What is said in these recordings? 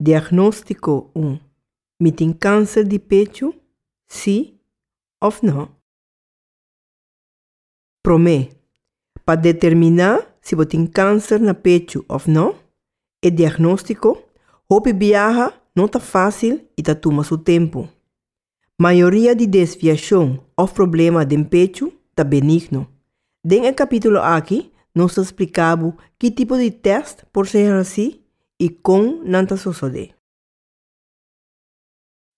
Diagnóstiko un. Mi tin kánser di pechu, sí òf nò? Promé, pa determiná si bo tin kánser na pechu òf nò, e diagnóstiko hopi biaha no ta fásil i ta tuma su tempu. Mayoria di desviashon òf problema den pechu ta benigno. Den e kapítulo akí nos ta spliká bo ki tipo di tèst por ser hasí i kon nan ta sosodé.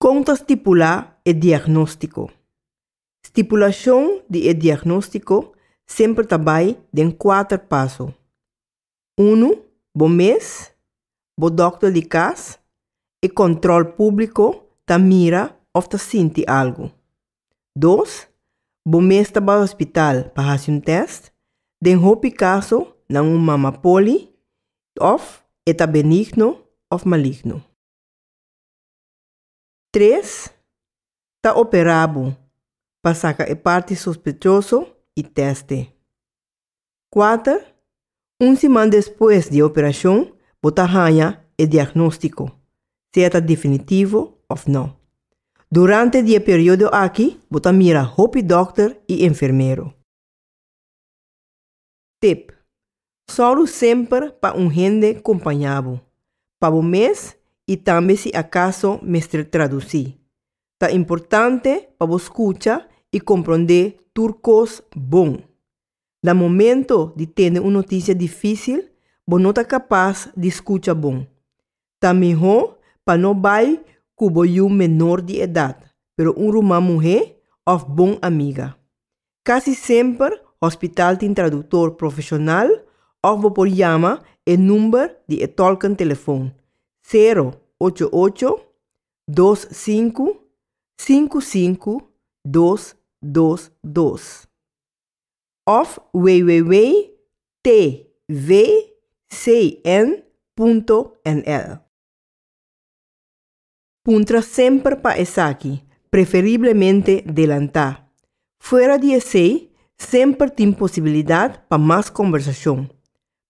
Kon ta stipulá e diagnóstiko? Stipulashon di e diagnóstiko semper ta bai den kuater paso. Unu, bo mes, bo dòkter di kas, e kòntròl públiko ta mira òf ta sinti algu. Dos, bo mes ta bai hospital pa hasi un tèst, den hopi kaso nan un mama poli òf e ta benigno òf maligno. Tres, Ta operá bo pa saka e parti sospechoso i tèst'e. Kuater, Un siman despues di e operashon bo ta haña e diagnóstiko, sea ta definitivo òf nò. Durante di e periodo aki bo ta mira hopi dòkter i enfermero. Tip, Sòru semper pa un hende kompañá bo, pa bo mes i tambe si akaso mester tradusí. Ta importante pa bo skucha i komprondé tur kos bon. Na momentu di tende un notisia difísil bo no ta kapas di skucha bon, Ta mihó pa no bai ku bo yu menor di edat, pero un ruman muhé òf bon amiga. Kasi semper hospital tin traduktor profeshonal òf bo por yama e number di e tòlken telefon, sero ocho ocho, dos sinku, sinku sinku, dos dos dos. of www.tvcn.nl. Puntra semper pa esaki, preferiblemente delantá. Fuera di esei, semper tin posibilidat pa mas kombersashon.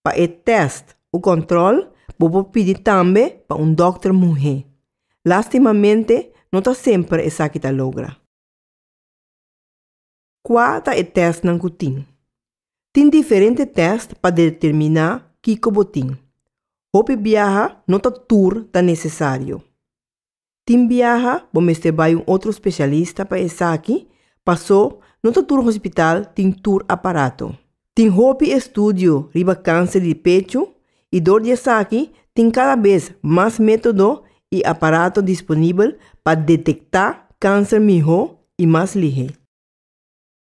Pa e tèst o kòntròl bo por pidi tambe pa un dòkter muhé. Lastimamente no ta semper esaki ta logra. Kua ta e tèstnan ku tin? Tin diferente tèst pa determiná kiko bo tin. Hopi biaha no ta tur ta nesesario. Tin biaha bo mester bai un otro spesialista pa esaki, pasó no ta tur hospital tin tur aparato. Tin hopi estudio riba kanser di pechu i dor di esaki tin kada bes mas método i aparato disponibel pa detektá kanser mihó i mas lihé.